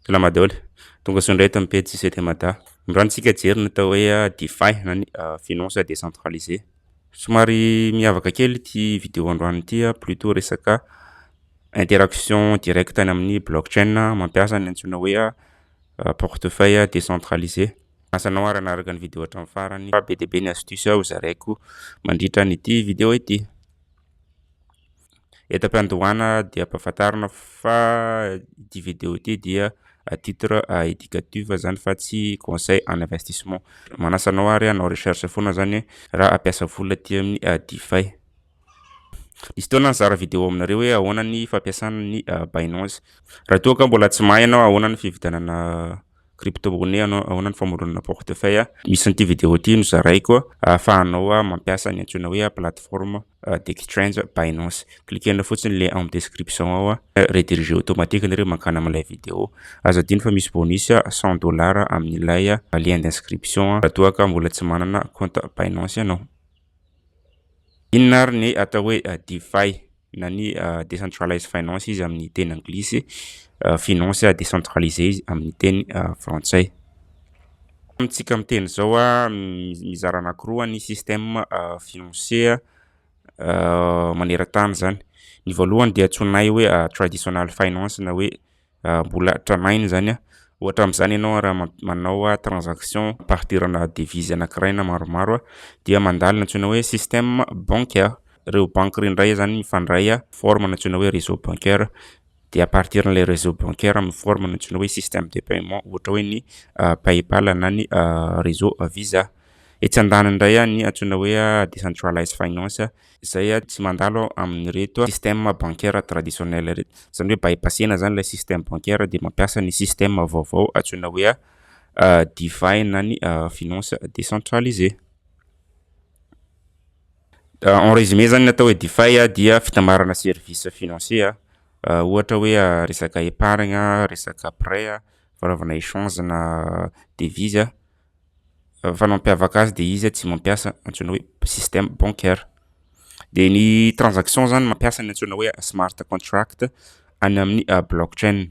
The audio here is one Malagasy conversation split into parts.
Salama daholo. Tonga soa indray eto amin'ny pejy CT Mada. Androany isika hijery ny atao hoe DeFi na ny finance décentralisée. Somary miavaka kely ity vidéo androany ity plutôt resaka interaction directe any amin'ny blockchain mampiasa ny antsoina hoe portefeuille décentralisé. Asa anao ary hanaraka ny vidéo hatramin'ny farany fa be dia be ny astuce ho zaraiko mandritra an'ity vidéo ity. Eto am-piandohana dia ampahafantarina fa ity video ity dia à titre éducatif izany fa tsy conseil en investissement. Manasa anao ary hanao recherche foana izany raha hampiasa vola aty amin'ny DeFi. Nisy fotoana nizara video aminareo hoe ahoana ny fampiasana ny Binance. Raha toa ka mbola tsy mahay ianao ahoana ny fividianana crypto-monnaie, ahoana ny famoronana portefeuille, misy an'ity video ity nozaraiko ahafahanao mampiasa ny antsoina hoe plateforme Deck Strange Binance. Cliquer-nao fotsiny le amin'ny description ao a. Rediriger automatique nareo mankany amin'ilay video. Aza adino fa misy bonus 100 dollars amin'ilay lien d'inscription raha toa ka mbola tsy manana compte Binance ianao. Inona ary ny atao hoe DeFi na ny Decentralized Finance izy amin'ny teny anglisy, finance décentralisée izy amin'ny teny frantsay. Amintsika miteny izao, mizara anankiroa ny système financier maneran-tany izany. Ny voalohany dia antsoinay hoe traditional finance na hoe mbola tranainy izany. Ohatra amin'izany ianao raha manao transaction ampidirana devizy anankiray na maromaro dia mandalo ny antsoina hoe système bancaire. Ireo banky ireo indray izany mifandray forme ny antsoina hoe réseau bancaire de à partir n'ilay réseau bancaire amin'ny forme nantsoina hoe système de paiement ohatra hoe ny paypal na ny réseau visa. Etsy andaniny indray a ny antsoina hoe decentralized finance izay a tsy mandalo amin'ireto système bancaire traditionnel ireto. Izany hoe bypass-na izany ilay système bancaire dia mampiasa ny système vaovao antsoina hoe DeFi na ny finance décentralisée. En résumé zany ny atao hoe Defi dia fitambarana service financier ohatra hoe resaka épargne, resaka prêt, fanaovana échange na devise fa ny mampiavaka azy dia izy tsy mampiasa antsoina hoe système bancaire. Dia ny transaction zany mampiasa ny antsoina hoe smart contract any amin'ny blockchain.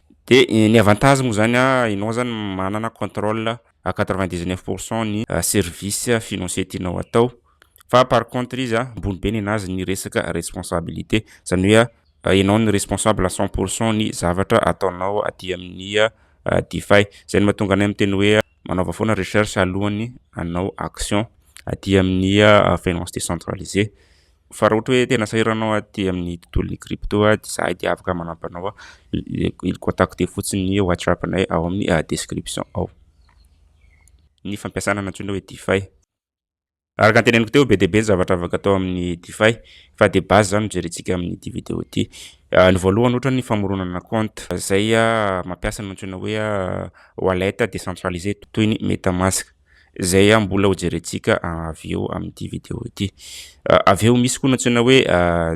De ny avantage moa zany an, enao zany manana controle à quatre vingt dix neuf pour cent ny service financier tianao atao, fa par contre izy an ambony be nenazy ny resaka responsabilité, zany hoe an enao no responsable à cent pour cent ny zavatra ataonao aty amin'ny Defy, zay no mahatonga anay miteny hoe manaova foana recherche alohan'ny hanao action aty amin'ny finance décentralisée, Fa raha ohatra hoe tena sahirana anao aty amin'ny tontolon'ny crypto dia izahay dia afaka manampy anao contacter fotsiny ny WhatsApp nay ao amin'ny description ao ny fampiasana ny antsoina hoe DeFi. Araka ny teneniko teo be dia be ny zavatra afaka atao amin'ny DeFi fa dia base izany no jerentsika amin'ity vidéo ity. Ny voalohany ohatra ny famoronana compte izay mampiasa ny antsoina hoe wallet décentralisé toy ny MetaMask. izay aho mbola ho jerentsika avy eo amin'ity vidéo ity. Avy eo misy koa ny antsoina hoe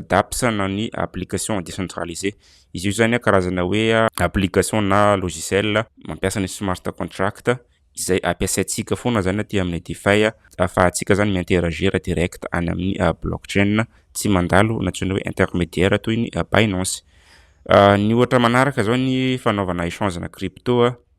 DApps na ny application décentralisée. Izy io izany karazana hoe application na logiciel mampiasa ny smart contract izay ampiasaintsika foana izany aty amin'ny DeFi ahafahantsika izany mi-interagir direct any amin'ny blockchain tsy mandalo ny antsoina hoe intermédiaire toy ny Binance. Ny ohatra manaraka izao ny fanaovana échange na crypto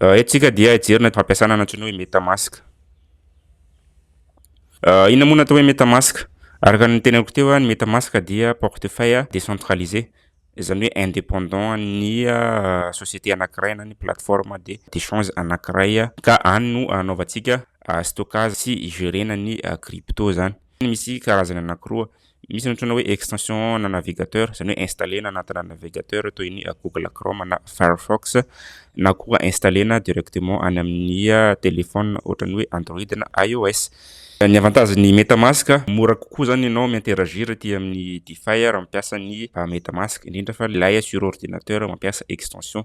Eto tsika dia hijery ny fampiasana ny antsoina hoe metamask. Inona moa no atao hoe metamask? Araka ny teneniko teo, ny metamask dia portefeuille décentralisé, izany hoe indépendant an'ny société anankiray na ny plateforme d'échange anankiray, ka any no anaovantsika stockage sy igerena ny crypto izany. Misy karazany anankiroa, Misy ny antsoina hoe extension na navigateur, izany hoe installer-na anatina navigateur toy ny Google Chrome na Firefox, na koa installer-na directement any amin'ny telephone ohatran'ny hoe Android na IOS. Ny avantagen'ny MetaMask, mora kokoa izany ianao mi-interagir aty amin'ny DeFi raha mampiasa ny MetaMask, indrindra fa ilay sur ordinateur mampiasa extension.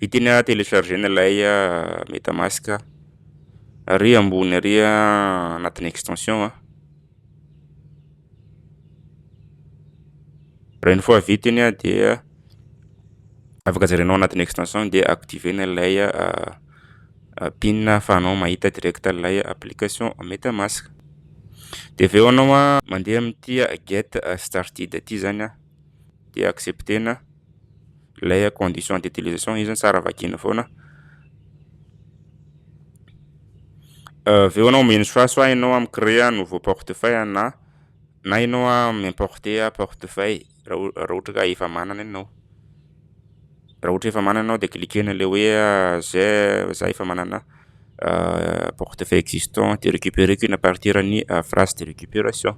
Viteny a telechargena ilay metamask ary ambony ary anatin'ny extension a. Raha ny fois viteny dia afaka jerenao anatin'ny extension dia activena ilay pin ahafahanao mahita direct ilay application metamask. Dia avy eo ianao mandeha amin'ity get started ity izany. dia accepter-na ilay condition d'utilisation. Io izany tsara vakiana foana. Avy eo ianao mino soasoa ianao amin'ny créer nouveau portefeuille na na ianao mi-importer portefeuille raha ohatra ka efa manana ianao. Raha ohatra efa manana ao dia cliquer-na ilay hoe j'ai za efa manana portefeuille existant dia recuperer-ko iny à partir ny phrase de récupération.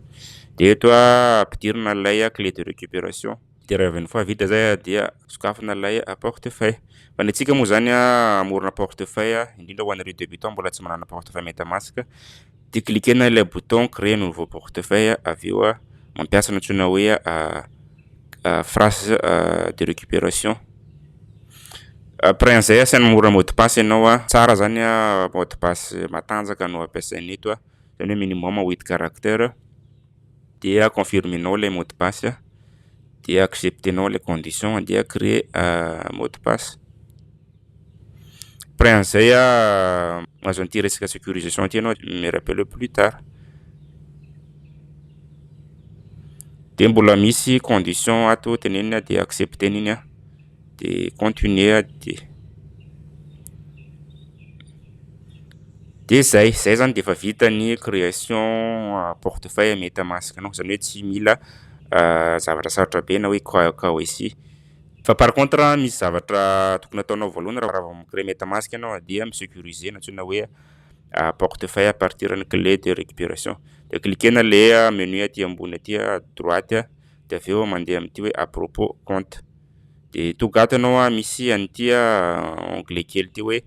Dia eto ampidirina ilay clé de récupération. Dia rehefa une fois vita izay dia sokafina ilay portefeuille. Fa ny antsika moa izany hamorona portefeuille indrindra ho an'ireo débutants mbola tsy manana portefeuille metamask, Dia cliquer-na ilay bouton créer nouveau portefeuille avy eo mampiasa ny antsoina hoe phrase de récupération. Après an'izay asian'ny mora mot de passe ianao, tsara zany mot de passe matanjaka no ampiasaina eto, zany hoe minimum huit caractère. dia confirmenao ilay mot de passe dia acceptenao ilay condition dia créer mot de passe après an'izay mahazo an'ity resaka sécurisation ity ianao me rappelle plus tard dia mbola misy condition ato tenenina dia accepter-na iny an dia continuer ah dia dia zay zay zany dia efa vita ny création portefeuille metamask nao zany hoe tsy mila zavatra sarotra be na hoe KYC fa par contre misy zavatra tokony ataonao voalohany raha vao mi-créer metamask ianao dia mi-sécuriser na antsoina hoe portefeuille à partir ny clé de récupération dia cliquer-na le menu aty ambony aty à droite dia avy eo mandeha amin'ity hoe à propos compte dia toa gaty ianao an, misy an'ity onglet kely ity hoe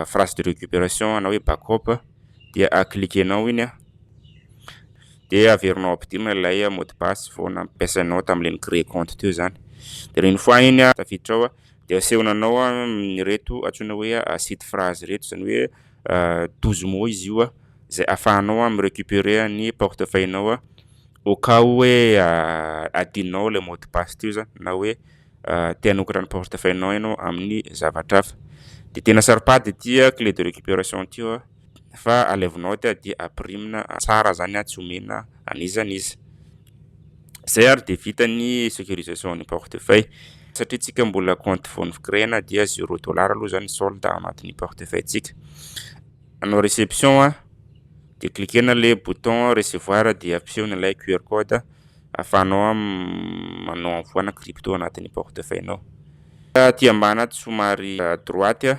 phrase de récupération na hoe back up dia cliquer-nao iny an, dia averinao ampidinina ilay mot de passe vao nampiasainao tamin'ilay ni-créer compte teo izany, dia une fois iny an, tafiditra ao dia asehonanao an ireto antsoina hoe site phrase ireto izany hoe. douze mois izy io izay afahanao mi recuperer ny portefeuille nao au cas où hoe adinonao ilay mot de passe teo zany na hoe te hanokatra ny portefeuille nao ianao amin'ny zavatra hafa dia tena saropady ity clé de recuperation ity fa alevonao aty dia apirimina tsara zany tsy omena an'iza an'iza Izay ary dia vita ny sécurisation an'ny portefeuille. Satria tsika mbola compte vao novo-créena dia zero dollars aloha izany ny solde ao anatin'ny portefeuille tsika. Anao réception a, dia cliquena le bouton recevoir dia ampiseho ny ilay QR code ahafahanao manao envoi na crypto anatin'ny portefeuille nao. Aty ambany aty somary à droite a.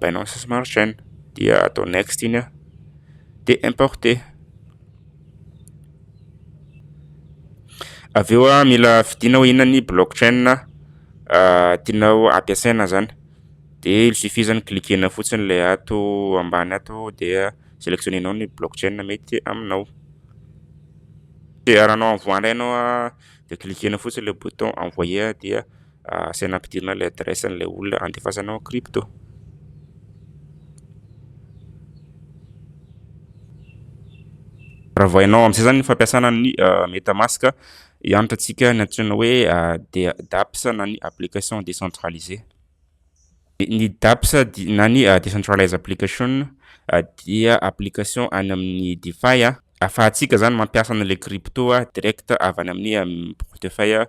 Binance Smart Chain dia atao next iny an dia importer avy eo an mila fidinao inona ny blockchain tianao ampiasaina zany dia il suffit zany cliquer-na fotsiny ilay ato ambany ato dia selectionner-nao ny blockchain mety aminao dia raha anao envoie indray ianao dia cliquer-na fotsiny ilay bouton envoyer dia Asaina ampidirina ilay adresse an'ilay olona andefasana ao crypto. Raha vao hainao amin'izay izany ny fampiasana ny euh, MetaMask, hianatra antsika ny antsoina hoe euh, DApps na ny application décentralisée. Ny DApps na ny euh, decentralized application dia application any amin'ny DeFi afahantsika zany mampiasa an'ilay crypto direct avy any amin'ny portefeuille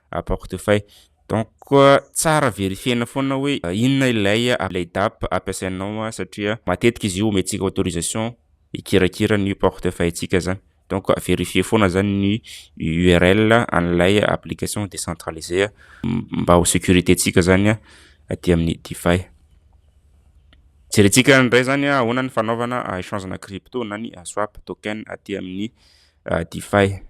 à portefeuille donc tsara verifiena foana hoe inona ilay ilay DAP ampiasainao an satria matetika izy io omentsika autorisation hikirakira ny portefeuille ntsika zany donc verifier foana zany ny URL an'ilay application décentralisée mba ho sécurité ntsika zany an aty amin'ny DeFi jerentsika indray zany an ahoana ny fanaovana échangena crypto na ny swap token aty amin'ny DeFi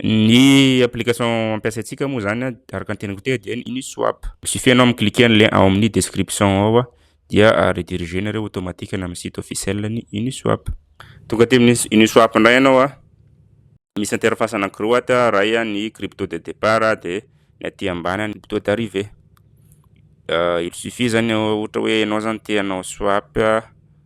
Ny application ampiasaintsika moa zany an, araka ny teneniko teo dia ny Uniswap. Il suffit ianao mi-cliquer ny lien ao amin'ny description ao an, dia rediriger nareo automatique any amin'ny site officiel ny Uniswap. Tonga aty amin'ny Uniswap indray ianao an, misy interface anankiroa aty an, iray an ny crypto de départ an, dia ny aty ambany an ny crypto d'arrivée. Il suffit zany ohatra hoe ianao zany te hanao swap.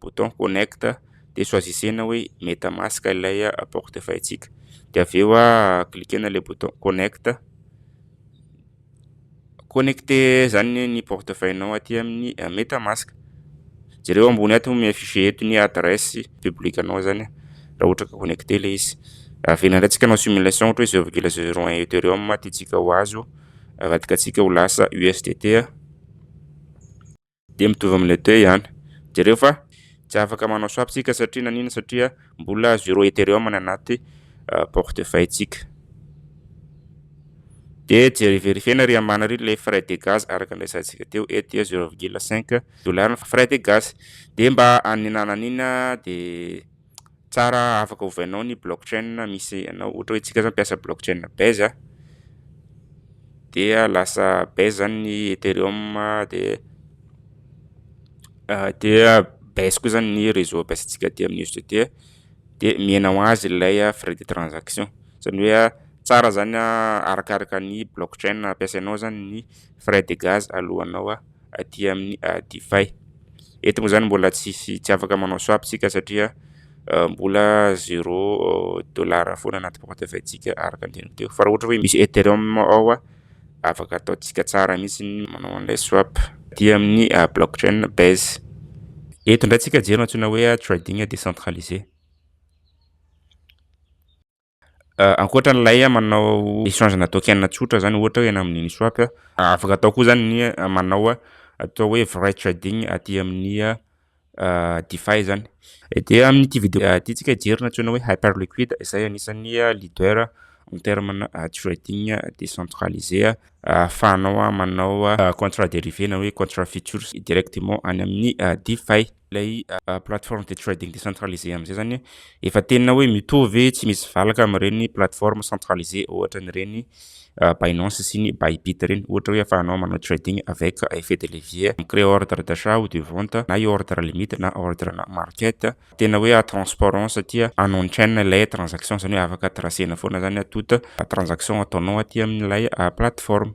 bouton connect dia choisissez-na hoe metamask ilay porte fahitsika dia avy eo cliquer-na ilay bouton connect, connecter izany ny porte fahiny aty amin'ny metamask, jereo ambony ato mi afficher eto ny adresse public anao izany raha ohatra ka connecter ilay izy, averina indray tsika hanao simulation ohatra hoe zero virgule zero un ethereum tiantsika ho azo avadika antsika ho lasa usdt. Dia mitovy amin'ilay teo ihany. Jereo fa tsy afaka manao swap tsika satria nanina satria mbola zero ethereum ny anaty portefeuille tsika. Dia jery verifiena ry amana ry le frais de gaz araka ny resahantsika teo eto dia zero virgule cinq dollars ny frais de gaz dia mba anina nanina dia tsara afaka ovainao ny block chain misy anao ohatra hoe antsika zao mpiasa block chain base a dia lasa base zany ny ethereum de dia base koa zany ny réseau ampiasantsika aty amin'ny USDT de mihena ho azy ilay frais de transaction zany hoe tsara zany arakaraka ny block chain ampiasainao zany ny frais de gaz alohanao a. aty amin'ny Difay. Eto moa izany mbola tsy afaka manao swap isika satria mbola zero dollars foana anaty porte money tsika araka ny teniko teo. Fa raha ohatra hoe misy Ethereum ao afaka ataontsika tsara mihitsy ny manao an'ilay swap aty amin'ny blockchain Base. Eto indray tsika jery antsoina hoe trading décentralisé. Ankoatra an'ilay manao échange na token tsotra zany ohatra hoe eny amin'ny Uniswap, afaka atao koa zany ny manao atao hoe vrai trading aty amin'ny DeFi zany. Dia amin'ity vidéo ity tsika hijery ny antsoina hoe Hyperliquid izay anisan'ny leader en terme na trading décentralisé ahafahanao manao contrat dérivé na hoe contrat futures directement any amin'ny DeFi. ilay plateforme de trading decentralisé amin'izay zany efa tena hoe mitovy tsy misy valaka amin'ireny plateforme centralisé ohatra an'ireny Binance sy ny Bybit ireny ohatra hoe afahanao manao trading avec effet de levier mi-créer ordre d'achat ou de vente na io ordre limite na ordre na market tena hoe transparent satria en on chain ilay transaction zany hoe afaka tracer-na foana zany toute transaction ataonao aty amin'ilay plateforme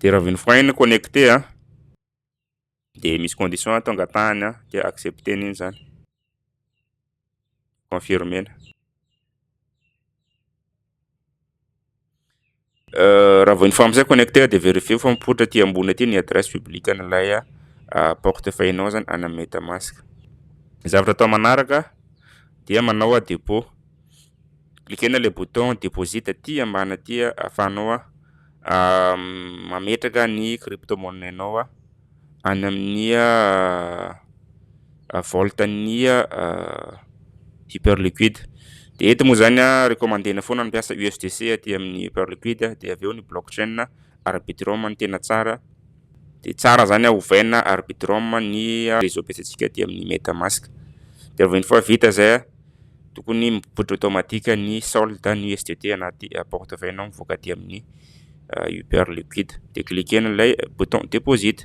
de raha avy ny frein no connecté a de misy condition atao angatahany a de accepter ny iny zany confirmer na raha vao ny famosay connecté de vérifier fa mipoitra aty ambony aty ny adresse publique an'ilay porte feuille nao zany ana metamask zavatra atao manaraka dia manao a dépôt Likena ilay bouton deposit aty ambany aty ahafahanao mametraka ny crypto money nao any amin'ny vaolte an'ny hyper liquide dia eto moa izany recommandena foana ny mampiasa usdc aty amin'ny hyper liquide dia avy eo ny block chain arbitrum no tena tsara dia tsara izany ovaina arbitrum ny réseau ampiasaintsika aty amin'ny metamask dia rehefa vita izay Tokony mipoitra automatique ny solde ny USDT anaty porte vay nao mivoaka aty amin'ny Uber Liquid. Dia cliquer-na ilay bouton deposit.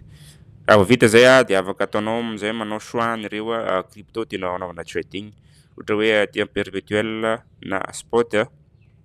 Raha vao vita izay dia afaka ataonao amin'izay manao choix an'ireo crypto tianao hanaovana trading. Ohatra hoe aty amin'ny perpetuel na spot.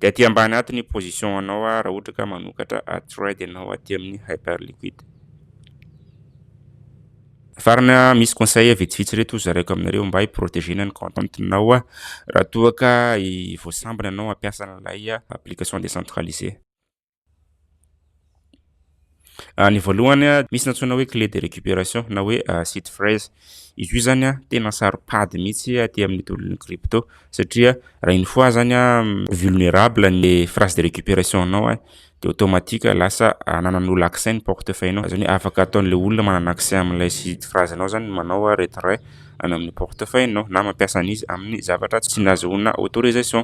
De aty ambany aty ny position anao raha ohatra ka manokatra thread ianao aty amin'ny Hyperliquid. Farana misy conseil vitsivitsy reto hozaraiko aminareo mba hi-proteger-na ny content-nao raha toa ka voasambana ianao hampiasa an'ilay application décentralisée. Ah, ny voalohany ah, misy nantsoina hoe clé de récupération na hoe ah, seed phrase. Izy io zany ah, tena saropady mihitsy aty amin'ny tontolon'ny crypto satria raha une fois zany ah, vulnérable ny phrase de récupération anao ah, de automatique lasa ananan'olo accès ny portefeuille anao. Zany hoe afaka ataon'le olona manana accès amin'ilay seed phrase anao zany manao ah, retrait any amin'ny portefeuille anao na mampiasa an'izy amin'ny zavatra tsy nazahoana autorisation.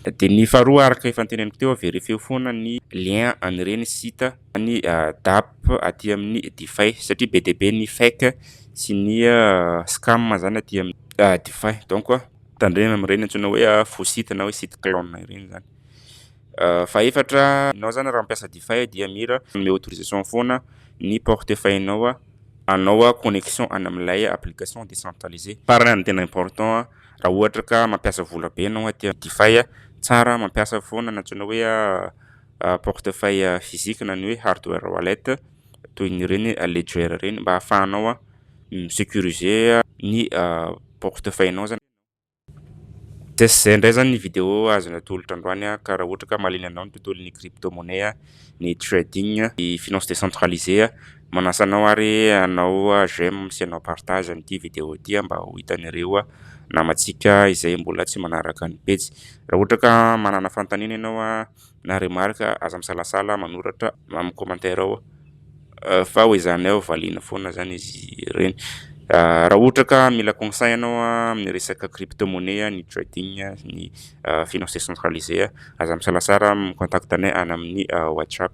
Dia ny faharoa araka efa noteneniko teo, verifieo foana ny lien an'ireny site an'ny DAP aty amin'ny Dify satria be dia be ny fake sy ny scam izany aty amin'ny Dify. Donc tandremo amin'ireny antsoina hoe faux site na hoe site clone ireny izany. Fahefatra, ianao izany raha mampiasa Dify dia mila manome autorisation foana ny portefeuille-nao hanao connexion any amin'ilay application décentralisée. Farany ary ny tena important, Raha ohatra ka mampiasa vola be ianao aty amin'ny Defy, tsara mampiasa foana ny antsoina hoe portefeuille physique na ny hoe hardware wallet toy ny ireny Ledger ireny mba ahafahanao mi-securiser ny portefeuille anao izany. Dia izay indray izany ny video azo natolotra androany ka raha ohatra ka mahaliana anao ny tontolon'ny crypto-monnaie, ny trading, ny finance décentralisée. Manasa anao ary hanao j'aime sy hanao partage an'ity video ity mba ho hitan'ireo namantsika izay mbola tsy manaraka ny pejy. Raha ohatra ka manana fanontaniana ianao na remarque aza misalasala manoratra amin'ny commentaire ao fa ho ezahanay hovaliana foana izany izy ireny. Raha ohatra ka mila conseil ianao amin'ny resaka crypto monnaie, ny trading, ny finance décentralisée aza misalasala mi-contacte anay any amin'ny WhatsApp.